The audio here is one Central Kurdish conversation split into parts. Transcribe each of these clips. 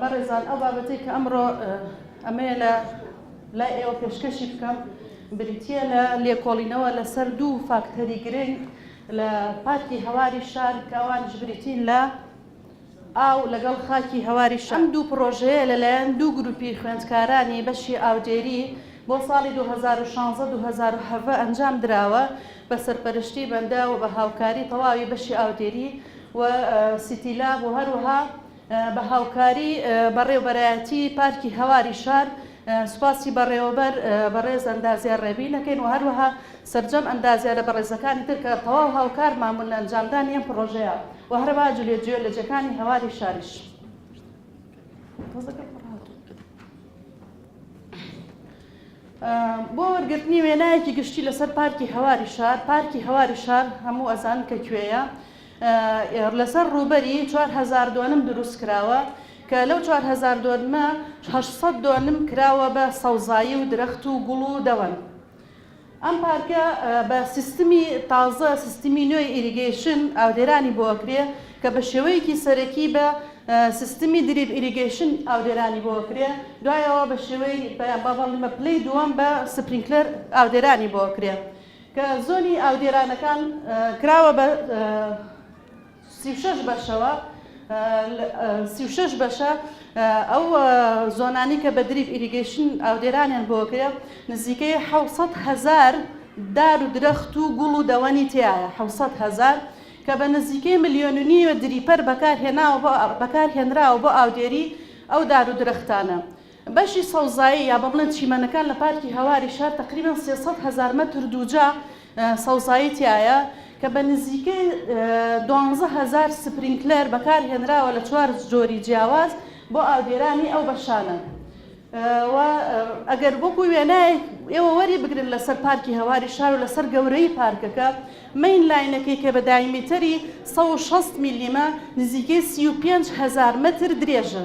بەڕێزان ئەو بابەتەی کە ئەمڕۆ ئەمەیە لە لای ئێوە پێشکەشی بکەم بریتە لە لێکۆڵینەوە لەسەر دوو فاکتەری گرنگ لە پارکی هەواری شار کەوانش بریتین لە ئاو لەگەڵ خاکی هەواری شەم دوو پرۆژەیە لەلایەن دوو گروپی خوێندکارانی بەشی ئاودێری بۆ ساڵی 2016-2017 ئەنجام دراوە بە سەرپەرشتی بەندە و بە هاوکاری تەواوی بەشی ئاودێری و سیتیلا بۆ هەروها بە هاوکاری بەڕێوبەرایەتی پارکی هەواری شار سوپاسی بەڕێوەبەر بەڕێز ئەندازیار ڕێبین دەکەین و هەروەها سەرجەم ئەندازیارە بەڕێزەکانی تر کە تەواو هاوکارمان بوون لە ئەنجامدانی ئەم پڕۆژەیە و هەرەبا جولێ جیۆلۆجیەکانی هەواری شاریش بۆ وەرگرتنی وێنایەکی گشتی لەسەر پارکی هەواری شار پارکی هەواری شار هەموو ئەزان کە کوێیە لەسەر ڕووبەری چوار هەزار دۆنم دروست کراوە کە لەو چوار هەزار دۆنمە هەشت سەد دۆنم کراوە بە سەوزایی و درەخت و گوڵ و دەوەن. ئەم پارکە بە سیستمی تازە سیستمی نوێی ئیریگەیشن ئاودێرانی بۆ ئەکرێ کە بە شێوەیەکی سەرەکی بە سیستمی دریپ ئیریگەیشن ئاودێرانی بۆ ئەکرێ دوای ئەوە بە شێوەی بە بەڵیمە پلەی دووەم بە سپرینکلەر ئاودێرانی بۆ ئەکرێ. کە زۆنی ئاودێرانەکان کراوە بە سی و شەش بەشەوە، سی و شەش بەشە، ئەو زۆنانەی کە بە دریپ ئیریگەیشن ئاودێرانیان بۆکرا نزیکەی حەوت سەد هەزار دار و درەخت و گوڵ و دەوەنی تیایە، حەوت سەد هەزار، کە بە نزیکەی ملیۆن و نیوێ دریپەر بەکارهێناوە بۆ بەکارهێنراوە بۆ ئاودێری ئەو دار و درەختانە. بەشی سەوزایی یا بەڵێن چیمەنەکان لە پارکی هەواری شار تەقریبەن سێ سەد هەزار مەتر دووجا سەوزایی تیایە کە بە نزیکەی دوانزە هەزار سپرینکلەر بەکارهێنراوە لە چوار جۆری جیاواز بۆ ئاودێرانی ئەو بەشانە و ئەگەر وەکو وێنایەک ئێوە وەری بگرن لەسەر پارکی هەواری شار و لەسەر گەورەی پارکەکە مین لاینەکەی کە بە دایمیتەری 160 میلیمە نزیکەی 35 هەزار مەتر درێژە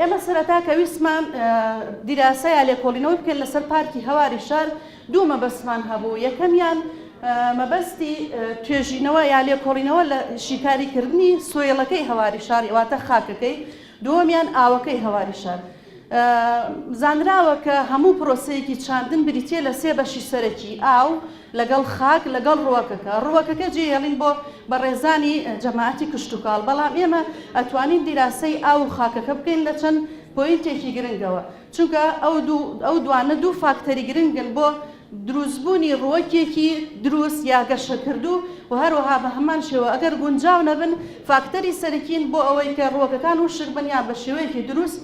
ئێمە سەرەتا کە ویستمان دیراسە یا لێکۆڵینەوەی بکەین لەسەر پارکی هەواری شار دوو مەبەستمان هەبوو یەکەمیان مەبەستی توێژینەوە یا لێکۆڵینەوە لە شیکاریکردنی سۆیڵەکەی هەواری شاری واتە خاکەکەی دووەمیان ئاوەکەی هەواری شار زانراوە کە هەموو پرۆسەیەکی چاندن بریتە لە سێ بەشی سەرەکی ئاو لەگەڵ خاک لەگەڵ ڕووەکەکە ڕووەکەکە جێهێڵین بۆ بەڕێزانی جەماعەتی کشتوکاڵ بەڵام ئێمە ئەتوانین دیراسەی ئاو و خاکەکە بکەین لە چەند پۆینتێکی گرنگەوە چونکە ئەو دوو ئەو دوانە دوو فاکتەری گرنگن بۆ دروستبوونی ڕووەکێکی دروست یا گەشەکردوو و هەروەها بە هەمان شێوە ئەگەر گونجاو نەبن فاکتەری سەرەکین بۆ ئەوەی کە ڕووەکەکان وشک بن یان بە شێوەیەکی دروست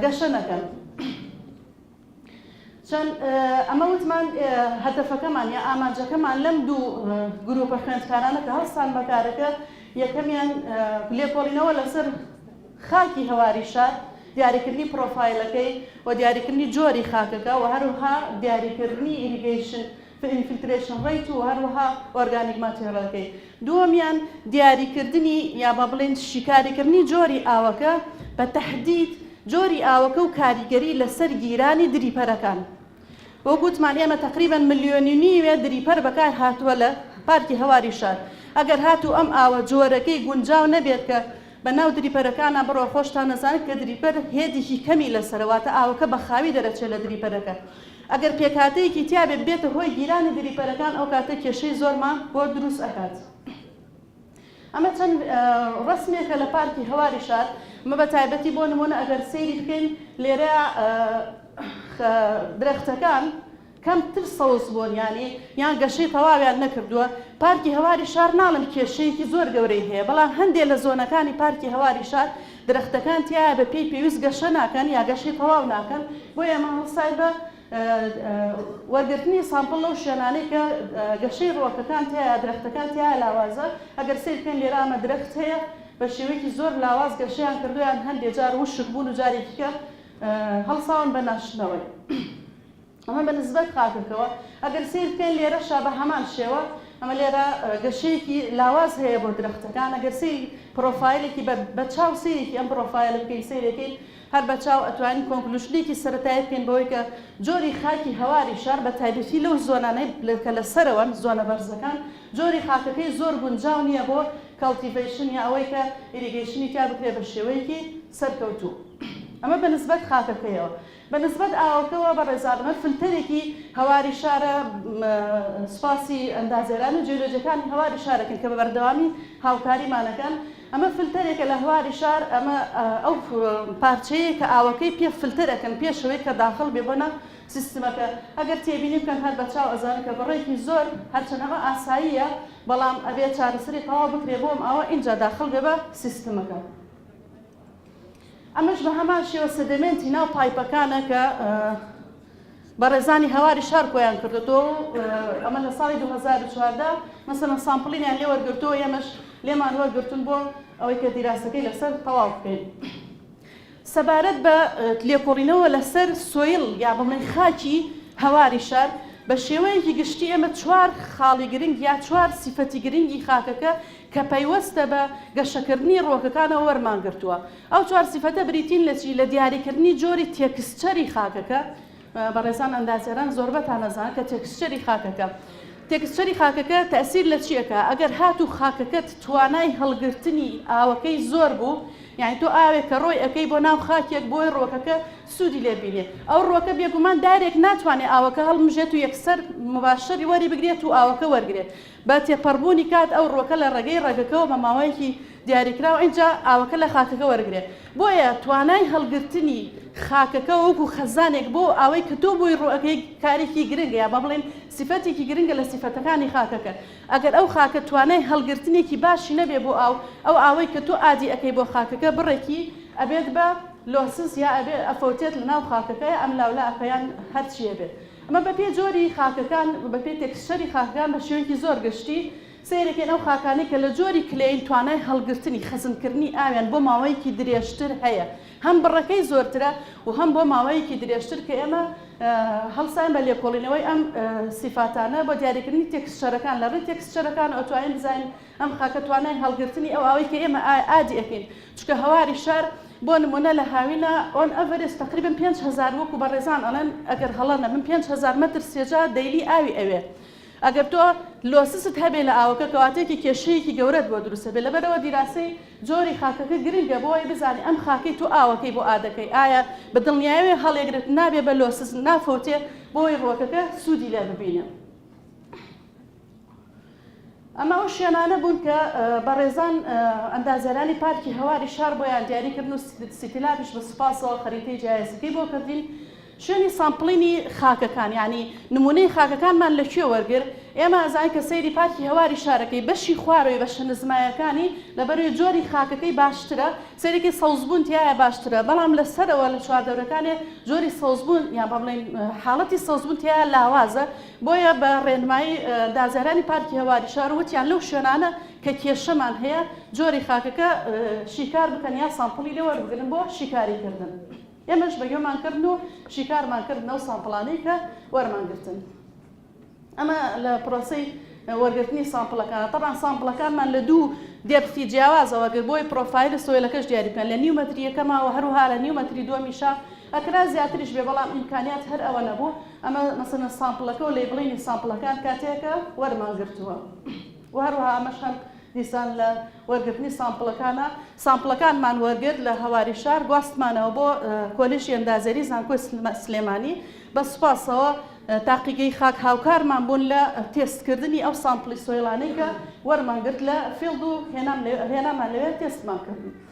گەشە نەکەن. چەند ئەمە وتمان هەدەفەکەمان یا ئامانجەکەمان لەم دوو گروپە خوێندکارانە کە هەڵستان بەکارەکە یەکەمیان لێکۆڵینەوە لەسەر خاکی هەواری شار دیاریکردنی پرۆفایلەکەی و دیاریکردنی جۆری خاکەکە و هەروها دیاریکردنی ئیریگەیشن فلترەیشن ڕەیت و هەروەها ئۆرگانیک ماتێڕەلەکەی دووەمیان دیاریکردنی یا با بڵێین شیکاریکردنی جۆری ئاوەکە بە تەحدید جۆری ئاوەکە و کاریگەری لەسەر گیرانی دریپەرەکان وەک وتمان ئێمە تقریبا ملیۆنی نیوێ دریپەر بەکار هاتووە لە پارکی هەواری شار ئەگەر هاتوو ئەم ئاوە جۆرەکەی گونجاو نەبێت کە بە ناو دریپەرەکانە بڕۆ خۆشتان نەزانێت کە دریپەر هێدیکی کەمی لەسەرەواتە ئاوەکە بە خاوی دەرەچێت لە دریپەرەکە ئەگەر پێکهاتەیەکی تیابێت ببێتە هۆی گیرانی دریپەرەکان ئەو کاتە کێشەی زۆرمان بۆ دروست ئەکات ئەمە چەند ڕسمێکە لە پارکی هەواری شار مە بە تایبەتی بۆ نمونە ئەگەر سەیری بکەین لێرە درەختەکان کەمتر سەوز بوون یانی یان گەشەی تەواویان نەکردووە پارکی هەواری شار ناڵم کێشەیەکی زۆر گەورەی هەیە بەڵام هەندێک لە زۆنەکانی پارکی هەواری شار درەختەکان تیایا بە پێی پێویست گەشە ناکەن یا گەشەی تەواو ناکەن، بۆیە ئەمە هەڵسای بە وەرگرتنی سامپڵ لەو شوێنانەی کە گەشەی ڕووەکەکان تیایا درەختەکان تیایا لاوازە، ئەگەر سەیر بکەین لێرە ئەمە درەخت هەیە بە شێوەیەکی زۆر لاواز گەشەیان کردووە یان هەندێ جار وشک بوون و جارێکیکە هەڵساون بە ناشتنەوەی. ئەمە بە نسبەت خاکەکەوە ئەگەر سەیر بکەین لێرەشا بە هەمان شێوە ئەمە لێرە گەشەیەکی لاواز هەیە بۆ درەختەکان ئەگەر سەیری پڕۆفایلێکی بە بە چاو سەیرێکی ئەم پڕۆفایلە بکەین سەیرێکەین هەر بە چاو ئەتوانین کۆنکلوشنێکی سەرەتایی بکەین بەوەی کە جۆری خاکی هەواری شار بە تایبەتی لەو زۆنانەی لە کە لە سەرەوەن زۆنە بەرزەکان جۆری خاکەکەی زۆر گونجاو نییە بۆ کەڵتیڤەیشن یا ئەوەی کە ئیریگەیشنی تیا بکرێ بە شێوەیەکی سەرکەوتوو ئەمە بە نسبەت خاکەکەیەوە بە نسبەت ئاوەکەوە بە ڕێزابنەر فلتەرێکی هەواری شارە سوپاسی ئەندازیاران و جیۆلۆجەکانی هەواری شارەکەن کە بە بەردەوامی هاوکاریمانەکەن ئەمە فلتەرێکە لە هەواری شار ئەمە ئەو پارچەیە کە ئاوەکەی پێ فلتەرەکەن پێش ئەوەی کە داخڵ بێ بۆ ناو سیستمەکە ئەگەر تێبینی بکەن هەر بە چاو ئەزانن کە بڕێکی زۆر هەرچەند ئەمە ئاساییە بەڵام ئەبێ چارەسەری تەواو بکرێ بۆم ئاوە ئینجا داخڵ بێ بە سیستمەکە. ئەمەش بە هەمان شێوە سەدەمێنتی ناو پایپەکانە کە بەڕێزانی هەواری شار کۆیان کردێتەوە ئەمە لە ساڵی 2014 مەسەن سامپڵینیان لێ وەرگرتەوە ئێمەش لێمان وەرگرتن بۆ ئەوەی کە دیراسەکەی لەسەر تەواو بکەین. سەبارەت بە لێکۆڵینەوە لەسەر سۆیل یا بڵێن خاکی هەواری شار بە شێوەیەکی گشتی ئێمە چوار خاڵی گرنگ یا چوار سیفەتی گرنگی خاکەکە کە پەیوەستە بە گەشەکردنی ڕووەکەکانەوە وەرمانگرتووە. ئەو چوار سیفەتە بریتین لە چی؟ لە دیاریکردنی جۆری تێکسچەری خاکەکە، بەڕێزان ئەندازیاران زۆربەتان ئەزانن کە تێکسچەری خاکەکە، تێکسچەری خاکەکە تەئسیر لە چی ئەکا؟ ئەگەر هاتوو خاکەکەت توانای هەڵگرتنی ئاوەکەی زۆر بوو، یانی تۆ ئاوێک کە ڕۆی ئەکەی بۆ ناو خاکێک بۆی ڕووەکەکە سوودی لێ بینێ، ئەو ڕووەکە بێگومان دارێک ناتوانێ ئاوەکە هەڵمژێت و یەکسەر مباشر وەری بگرێت و ئاوەکە وەرگرێت. بە تێپەڕبوونی کات ئەو ڕووەکە لە ڕێگەی ڕەگەکەوە بە ماوەیەکی دیاریکراو ئینجا ئاوەکە لە خاکەکە وەرگرێ بۆیە توانای هەڵگرتنی خاکەکە وەکو خەزانێک بۆ ئاوەی کە تۆ بۆی ڕووئەکەی کارێکی گرنگە یا با بڵێین سیفەتێکی گرنگە لە سیفەتەکانی خاکەکە ئەگەر ئەو خاکە توانای هەڵگرتنێکی باشی نەبێ بۆ ئاو ئەو ئاوەی کە تۆ ئادی ئەکەی بۆ خاکەکە بڕێکی ئەبێت بە لۆسس یا ئەبێ ئەفەوتێت لە ناو خاکەکە یا ئەملاولا ئەکا یان هەرچی ئەبێت ئەمە بە پێی جۆری خاکەکان، بە پێی تێکسچەری خاکەکان بە شێوەیەکی زۆر گشتی سەیرەکەین، ئەو خاکانەی کە لە جۆری کلەیین توانای هەڵگرتنی، خەزنکردنی، ئاویان بۆ ماوەیەکی درێژتر هەیە، هەم بڕەکەی زۆرترە و هەم بۆ ماوەیەکی درێژتر کە ئێمە هەڵساین بە لێکۆڵینەوەی ئەم سیفاتانە بۆ دیاریکردنی تێکسچەرەکان لە ڕێی تێکسچەرەکانەوە ئەتوانین بزانین ئەم خاکە توانای هەڵگرتنی ئەو ئاوەی کە ئێمە ئادی ئەکەین چونکە هەواری شار بۆ نموونە لە هاوینە ئۆن ئەڤرێست تەقریبەن پێنج هەزار وەکو بەڕێزان ئەڵێن ئەگەر هەڵە نەبم پێنج هەزار مەتر سێجا دەیلی ئاوی ئەوێ ئەگەر تۆ لۆسست هەبێ لە ئاوەکە کەواتەیەکی کێشەیەکی گەورەت بۆ دروست ئەبێ لەبەرئەوە دیراسەی جۆری خاکەکە گرنگە بۆی بزانی ئەم خاکەی تۆ ئاوەکەی بۆ ئادەکەی ئایا بە دڵنیایەوێ هەڵیەگرێت نابێ بە لۆسست نافەوتێ بۆی ڕوەکەکە سوودی لێ ببینێ. ئەمە ئەو شوێنانە بوون کە بەڕێزان ئەندازیارانی پارکی هەواری شار بۆیان دیاریکردن و سیتیلابیش بە سوپاسەوە خەریتەی جیایەسەکەی بۆ کردین شوێنی سامپڵینی خاکەکان یعنی نمونەی خاکەکانمان لە کوێ وەرگر ئێمە ئەزای کە سەیری پارکی هەواری شارەکەی بەشی خوارەوەی بە شەنزمایەکانی لەبەروی جۆری خاکەکەی باشترە سەرێکی سەوزبوون تایە باشترە بەڵام لە سەرەوە لە چواردەورەکانێ جۆری سەوزبوون یان بەڵێن حاڵەتی سەوزبوون تایە لاوازە بۆیە بە ڕێنمایی دازیارانی پارکی هەواری شار وتیان لەو شوێنانە کە کێشەمان هەیە جۆری خاکەکە شیکار بکەن یا سامپڵی لێ وەربگرن بۆ شیکاریکردن ئێمەش بە گوێمان کردن و شیکارمان کرد لەو سامپڵانەی کە وەرمان گرتن ئەمە لە پرۆسی وەرگرتنی سامپڵەکان طبعا سامپڵەکانمان لە دوو دێبخی جیاوازەوە گەر بۆی پرۆفایل سۆیلەکەش دیاری بکەن لە نیو مەتریەکەماوە هەروها لە نیو مەتری دووەمیشا ئەکرا زیاتریش بێ بەڵام ئیمکانیات هەر ئەوە نەبوو ئەمە مەسەلەن سامپڵەکە و لەیبڵینی سامپڵەکان کاتێکە وەرمان گرتووە و هەروەها ئەمەش هەم دیسان لە وەرگرتنی سامپڵەکانە سامپڵەکانمان وەرگرت لە هەواری شار گواستمانەوە بۆ کۆلیژی ئەندازێری زانکۆی سلێمانی بە سوپاسەوە تاقیگەی خاک هاوکارمان بوون لە تێستکردنی ئەو سامپڵی سۆیلانەی کە وەرمانگرت لە فێڵد و هێنامان لەوێ تێستمان کرد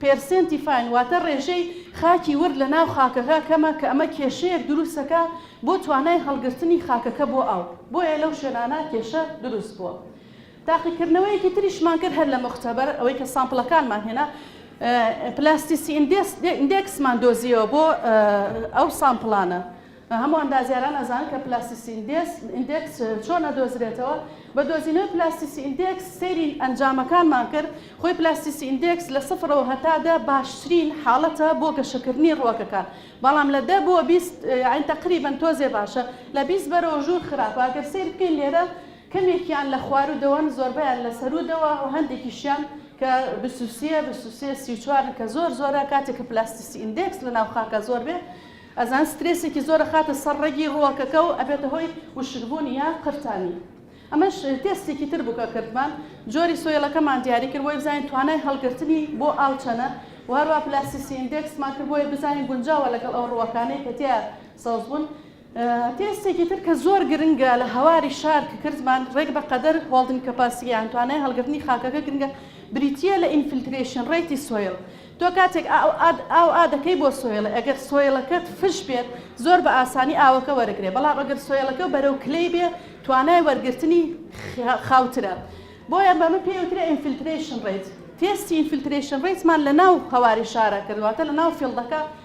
پێرسێنتی فاین واتە ڕێژەی خاکی ورد لە ناو خاکەکە کەمە کە ئەمە کێشەیەک دروست دەکا بۆ توانای هەڵگرتنی خاکەکە بۆ ئاو بۆیە لەو شوێنانە کێشە دروست بووە تاقیکردنەوەیەکی تریشمان کرد هەر لە مختبر ئەوەی کە سامپڵەکانمان هێنا پلاستیسی ئیندێکسمان دۆزیەوە بۆ ئەو سامپڵانە. هەموو ئەندازیاران ئەزانن کە پلاستیسی ئیندێکس چۆن ئەدۆزرێتەوە، بە دۆزینەوەی پلاستیسی ئیندێکس سەیری ئەنجامەکانمان کرد، خۆی پلاستیسی ئیندێکس لە سفرەوە هەتا دە باشترین حاڵەتە بۆ گەشەکردنی ڕووەکەکان، بەڵام لە دە بۆ بیست یاعنی تەقریبەن تۆزێ باشە، لە بیست بەرەوە ژوور خراپە، ئەگەر سەیر بکەین لێرە کەمێکیان لە خواروودەوەن زۆربەیان لە سەروودەوە و هەندێکیشیان کە بیست و سێ، بیست و سێ، سی و چوارن کە زۆر زۆرە، کاتێک کە پلاستیسی ئیندێکس لەناو خاکا زۆر بێ، ئەزان سترێسێکی زۆر ئەخاتە سەر ڕەگی ڕووەکەکە و ئەبێتە هۆی وشکبوون یا قرتانی. ئەمەش تێستێکی تر بوو کە کردمان، جۆری سۆیڵەکەمان دیاری کرد بۆی بزانین توانای هەڵگرتنی بۆ ئاو چەنە و هەروەها پلاستیسی ئیندێکسمان کرد بۆی بزانین گونجاوە لەگەڵ ئەو ڕووەکانەی کە تێیا سەوز بوون. تێستێکی تر کە زۆر گرنگە لە هەواری شار کە کردمان، ڕێک بە قەدەر، Holding Capacity، یان توانای هەڵگرتنی خاکەکە گرنگە، بریتییە لە ئینفیلترەیشن ڕەیتی سۆیڵ، تۆ کاتێک ئاو ئا دەکەی بۆ سۆیڵێ ئەگەر سۆیڵەکەت فش بێت زۆر بە ئاسانی ئاوەکە وەرەگرێ بەڵام ئەگەر سۆیڵەکە بەرەو کلەی بێ توانای وەرگرتنی خاوترە بۆیە بەمە پێی وترێ ئینفیلترەیشن ڕەیت تێستی ئینفیلترەیشن ڕەیتمان لە ناو هەواری شارە کرد واتە لە ناو فیڵدەکە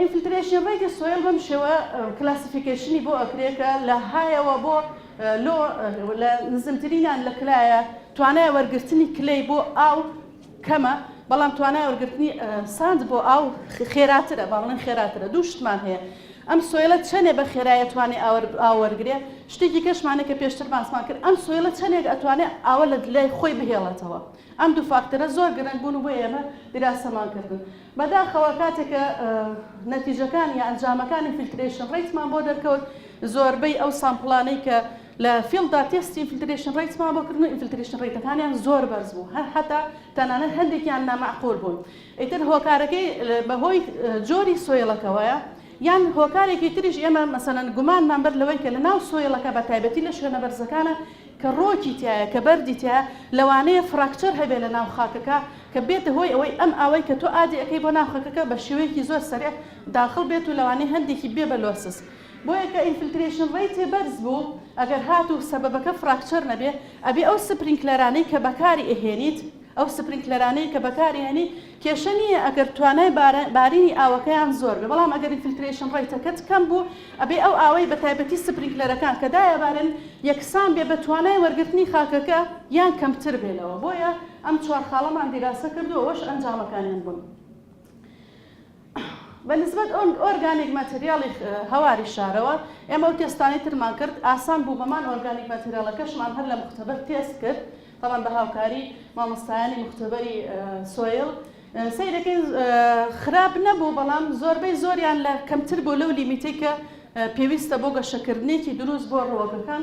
ئینفلترەیشن ڕەیت سۆیڵ بەم شێوە کلاسیفیکەیشنی بۆ ئەکرێ کە لە هایەوە بۆ لۆ لە نزمترینان لە کلایە توانای وەرگرتنی کلەی بۆ ئاو کەمە بەڵام توانای وەرگرتنی ساند بۆ ئاو خێراترە باڵێن خێراترە دوو شتمان هەیە ئەم سۆیلە چەنێ بە خێرایە توانێ ئاوەرگرێ شتێکی کەشمانە کە پێشتر باسمان کرد ئەم سۆیلە چەندێک ئەتوانێت ئاوە لە دلای خۆی بهێڵێتەوە ئەم دوو فاکتەرە زۆر گرنگ بوون بۆ ئێمە دراسەمان کردن بەداخەوە کاتێک کە نەتیجەکان یا ئەنجامەکانی فیلترەیشن ڕەیتمان بۆ دەرکەوت زۆربەی ئەو سامپڵانەی کە لە فیڵدا تێستی ئینفیلترەیشن ڕەیتمان بۆ کردن و ئینفیلترەیشن ڕەیتەکانیان زۆر بەرز بوو هەر حەتا تەنانەت هەندێکیان نامەعقول بوون ئیتر هۆکارەکەی بەهۆی جۆری سۆیڵەکەوەیە یان هۆکارێکی تریش ئێمە مەسەلەن گومانمان بەر لەوەی کە لە ناو سۆیڵەکە بە تایبەتی لە شوێنە بەرزەکانە کە ڕۆکی تیایە کە بەردی تیایە لەوانەیە فراکچەر هەبێ لە ناو خاکەکە کە بێتە هۆی ئەوەی ئەم ئاوەی کە تۆ ئادی ئەکەی بۆ ناو خەکەکە بە شێوەیەکی زۆر سەرێع داخڵ بێت و لەوانەیە هەندێکی بێ بە لۆسس بۆیە کە ئینفلترێشن ڕەیتێ بەرز بوو ئەگەر هات و سەبەبەکە فراکچەر نەبێ ئەبێ ئەو سپرینکلەرانەی کە بەکاری ئەهێنیت ئەو سپرینکلەرانەی کە بەکاری هێنی کێشە نییە ئەگەر توانای بارینی ئاوەکەیان زۆر بێ بەڵام ئەگەر ریفلترەیشن ڕەیتەکەت کەم بوو ئەبێ ئەو ئاوەی بە تایبەتی سپرینکلەرەکان کە دایەبارن یەکسان بێ بە توانای وەرگرتنی خاکەکە یان کەمتر بێ لەوە بۆیە ئەم چوار خاڵەمان دیراسە کردووە ئەوەش ئەنجامەکانیان بوون. بە نسبەت ئۆرگانیک ماتریاڵی هەواری شارەوە، ئێمە ئەو تێستانەی ترمان کرد ئاسان بوو بەمان، ئۆرگانیک ماتریاڵەکەشمان هەر لە موختەبەر تێست کرد، تەبعەن بە هاوکاری مامۆستایانی موختەبەری سۆیڵ، سەیرەکەین خراپ نەبوو، بەڵام زۆربەی زۆریان لە کەمتر بوو لەو لیمیتەی کە پێویستە بۆ گەشەکردنێکی دروست بۆ ڕووەکەکان،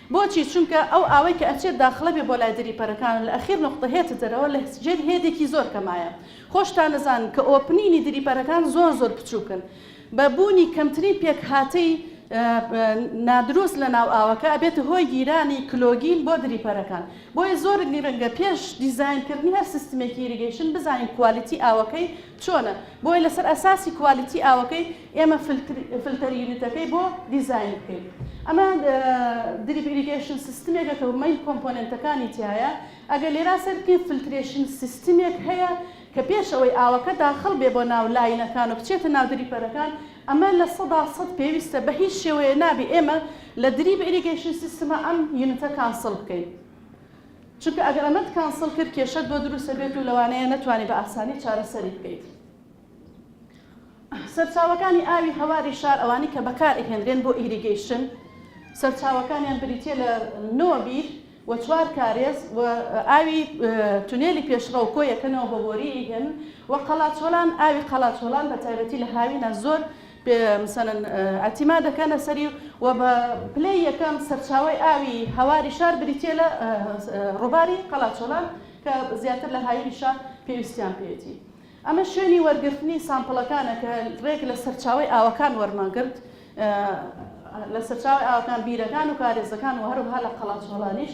بۆچی چونکە ئەو ئاوەی کە ئەچێت داخڵە بێ بۆ لای دری پەرەکان و لە ئەخیر نوقتە هێتە دەرەوە لە جێر هێدێکی زۆر کەمایە خۆشتان ئەزانن کە ئۆپنینی دری پەرەکان زۆر زۆر بچوکن بە بونی کەمترین پێکهاتەی نادروست لە ناو ئاوەکە ئەبێتە هۆی گیرانی کلۆگین بۆ دری پەرەکان بۆیە زۆر گرنگە پێش دیزاین کردنی هەر سیستمێکی ئیریگەیشن بزانین کوالیتی ئاوەکەی چۆنە؟ بۆیە لەسەر ئەساسی کوالیتی ئاوەکەی ئێمە فلتەر یونتەکەی بۆ دیزاین بکەین. ئەمە دریپ ئیریگەیشن سیستمێکە کە مەین کۆمپۆنێنتەکانی تیایە. ئەگەر لێرا سەیر بکەین فلترێشن سیستمێک هەیە کە پێش ئەوەی ئاوەکە داخڵ بێ بۆ ناو لاینەکان و بچێتە ناو دریپەرەکان ئەمە لە سەدا سەد پێویستە بە هیچ شێوەیە نابێ ئێمە لە دریپ ئیریگەیشن سیستمە ئەم یونتە کانسڵ بکەین. چونکە ئەگەر ئەمەت کانسڵ کرد کێشەت بۆ دروست ئەبێت و لەوانەیە نەتوانی بە ئاسانی چارەسەری بکەیت. سەرچاوەکانی ئاوی هەواری شار ئەوانەی کە بەکار ئەهێنرێن بۆ ئیریگەیشن سەرچاوەکانیان بریتیە لە نۆ بیر و چوار کارێز و ئاوی تونێلی پێشڕەو کۆ یەکەنەوە بۆ بۆریی هێمن و قەڵاچۆلان ئاوی قەڵاچۆلان بە تایبەتی لە هاوینە زۆر پێ ئەتیما دەکەنە سەری و بە پلەی یەکەم سەرچاوەی ئاوی هەواری شار بریتییە لە ڕووباری قەڵاچۆلان کە زیاتر لە هاوینی شار پێویستیان پێیەتی. ئەمە شوێنی وەرگرتنی سامپڵەکانە کە ڕێک لە سەرچاوەی ئاوەکان وەرمانگرت، لە سەرچاوەی ئاوەکان، بیرەکان و کارێزەکان و هەروەها لە قەڵاچۆڵانیش.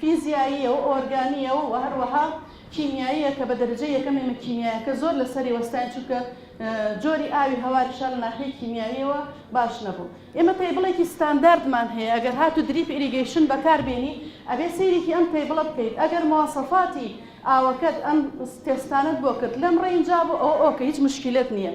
فیزیاییە و ئۆرگانییە و هەروەها کیمیاییە کە بە دەرەجەی یەکەم ئێمە کیمیایەکە زۆر لەسەری وەستاین چونکە جۆری ئاوی هەواری شار لە ناحیەی کیمیاییەوە باش نەبوو ئێمە تەیبڵێکی ستانداردمان هەیە ئەگەر هاتوو دریپ ئیریگەیشن بەکار بێنی ئەبێ سەیرێکی ئەم تەیبڵە بکەیت ئەگەر مواسەفاتی ئاوەکەت ئەم تێستانەت بۆ کرد لەم ڕێینجا بوو ئەوە ئۆکەی هیچ مشکیلەت نییە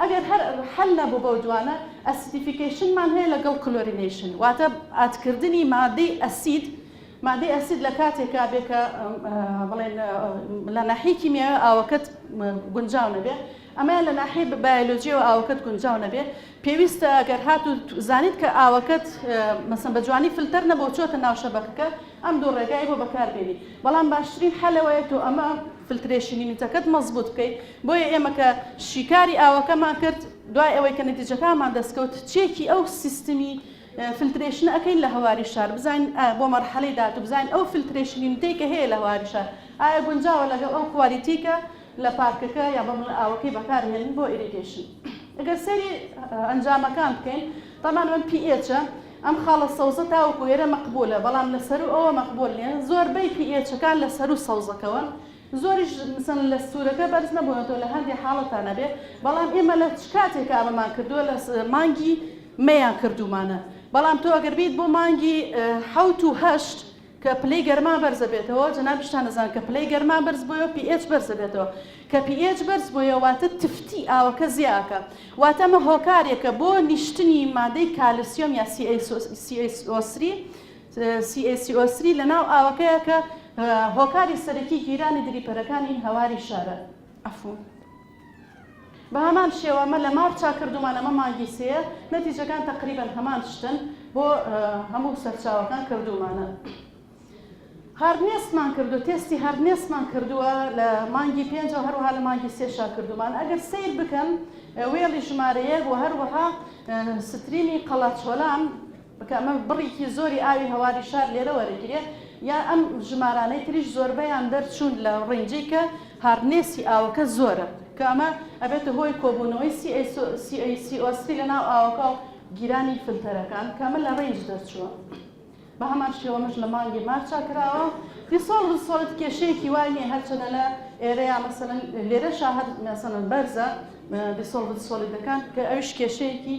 ئەگەر هەر حەل نەبوو بەو دوانە، ئەسیدیفیکەیشنمان هەیە لەگەڵ کلۆرینەیشن واتە ئاتکردنی مادەی ئەسید، مادەی ئەسید لە کاتێکا بێ کە بڵێن لە ناحیەی کیمیاوی ئاوەکەت گونجاو نەبێ، ئەمەیان لە ناحیەی بایەلۆجیەوە ئاوەکەت گونجاو نەبێ، پێویستە گەر هاتوو زانیت کە ئاوەکەت مەسەن بە جوانی فلتەر نەبۆ چۆتە ناو شەبەکەکە، ئەم دوو ڕێگای بۆ بەکار بێنی بەڵام باشترین حەل ئەوەیە تۆ ئەمە فلترێشنی نوتەکەت مەزبوت بکەی بۆیە ئێمە کە شیکاری ئاوەکەمان کرد دوای ئەوەی کە نەتیجەکانمان دەست کەوت چێکی ئەو سیستمی فلترێشنە ئەکەین لە هەواری شار بزانین بۆ مەرحەلەی داهاتوو بزانین ئەو فلترێشنی نوتەی کە هەیە لە هەواری شار ئایا گونجاوە لەگەڵ ئەو کوالیتی کە لە پارکەکە یا بە مڵ ئاوەکەی بەکار هێنین بۆ ئیریگەیشن ئەگەر سەیری ئەنجامەکان بکەین تەمان من پی ئێچە ئەم خاڵە سەوزە تاوەکو ئێرە مەقبولە بەڵام لە سەروو ئەوە مەقبول نیە زۆر بەی پی ئێچەکان لە سەروو سەوزەکەوەن زۆریش مثلن لە سورەکە بەرز نەبونەتەوە لە هەندێ حاڵەتا نەبێ بەڵام ئێمە لە چ کاتێکا ئەمەمان کردوە لە مانگی مەیان کردومانە بەڵام تۆ ئەگەر بیت بۆ مانگی حەوت و هەشت کە پلەی گەرما بەرز ئەبێتەوە، جەنابیشتان ئەزانن کە پلەی گەرما بەرز بۆیەوە pH بەرز ئەبێتەوە، کە pH بەرز بۆیە واتە تفتی ئاوەکە زیا ئەکا، واتە ئەمە هۆکارێکە بۆ نیشتنی مادەی کالسیۆم یا CaCO تری لە ناو ئاوەکەیا کە هۆکاری سەرەکی گیرانی دریپەرەکانی هەواری شارە. بەهەمان شێوە ئەمە لە مارچا کردومان ئەمە مانگی سێیە نەتیجەکان تەقریبەن هەمان شتن بۆ هەموو سەرچاوەکان کردومانە هاردنێسمان کردو تێستی هەردنێسمان کردووە لە مانگی پێنج و هەروها لە مانگی سێشا کردومان ئەگەر سیر بکەن وێڵی ژمارەیەک و هەروەها ستریمی قەڵاچۆلان کە ئەمە بڕێکی زۆری ئاوی هەواری شار لێرە وەرەگیرێ یا ئەم ژمارانەی تریش زۆربەیان دەرچوون لە ڕینجی کە هاردنێسی ئاوەکە زۆرە کە ئەمە ئەبێتە هۆی کۆبوونەوەی CO سری لە ناو ئاوەکە و گیرانی فلتەرەکان کە ئەمە لە ڕینج دەرچووە بە هەمان شێوە ئەمەش لە مانگی مارچا کراوە دیسۆڵڤد سۆڵت کێشەیەکی وای نییە هەرچەندە لە ئێرەیا مەسەلەن لێرەشا هەر مەسەلەن بەرزە دیسۆڵڤد سۆڵیدەکان کە ئەویش کێشەیەکی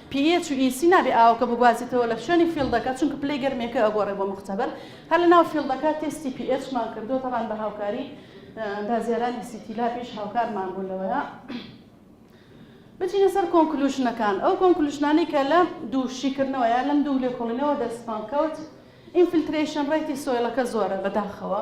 پی ئێچ و ئی سی نابێ ئاوەکە بگوازێتەوە لە شوێنی فیڵدەکە چونکە پلەی گەرمیەکە ئەگۆڕێ بۆ موختەبەر هەر لە ناو فیڵدەکە تێستی پی ئێچ مان کردوە تەبان بە هاوکاری ئەندازیارانی سیتی لابیش هاوکارمان بوون لەوەیە بچینە سەر کۆنکلوشنەکان ئەو کۆنکلوشنانەی کە لە دوو شیکردنەوە یا لەم دوو لێکۆڵینەوە دەستمان کەوت ئینفلترەیشن ڕێتی سۆیڵەکە زۆرە بەداخەوە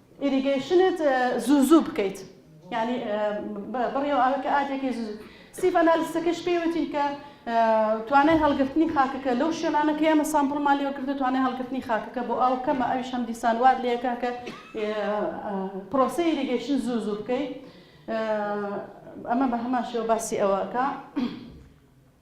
ئیریگەیشنت زوو زوو بکەیت یانی بڕیەوە ئەوە کە ئاتێکی زوو ستیڤ ئەنالیستەکەش پێی وتین کە توانای هەڵگرتنی خاکەکە لەو شوێنانە کە ئێمە سامپڵمان لێوە کردو توانای هەڵگرتنی خاکەکە بۆ ئەو کەمە ئەویش هەم دیسان وات لەکە کە پرۆسی ئیریگەیشن زوو زوو بکەیت ئەمە بە هەمان شێوە باسی ئەوەکە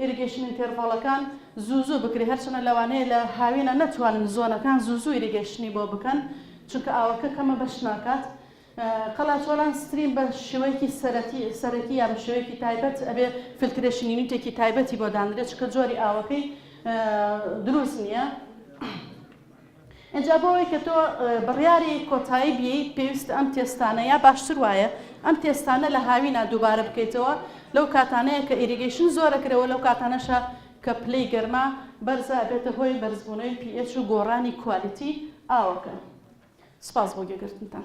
ئیریگەیشن ئینتێرڤاڵەکان زوو زوو بکرێت، هەرچەندە لەوانەیە لە هاوینە نەتوانن زۆنەکان زوو زوو ئیریگەیشنی بۆ بکەن چونکە ئاوەکە کەمە بەش ناکات. قەلاچۆلان ستریم بە شێوەیەکی سەرەتی سەرەکی یان بە شێوەیەکی تایبەت ئەبێ فلترێشن یونیتێکی تایبەتی بۆ دانرێت چونکە جۆری ئاوەکەی دروست نییە. ئینجا بۆ ئەوەی کە تۆ بڕیاری کۆتایی بیەی پێویستە ئەم تێستانە یا باشتر وایە ئەم تێستانە لە هاوینا دووبارە بکەیتەوە لەو کاتانەیە کە ئیریگەیشن زۆرە کرەوە لەو کاتانەشە کە پلەی گەرما بەرزە ئەبێتە هۆی بەرزبوونەوەی pH و گۆڕانی کوالیتی ئاوەکە. سپاس بۆ گوێگرتنتان.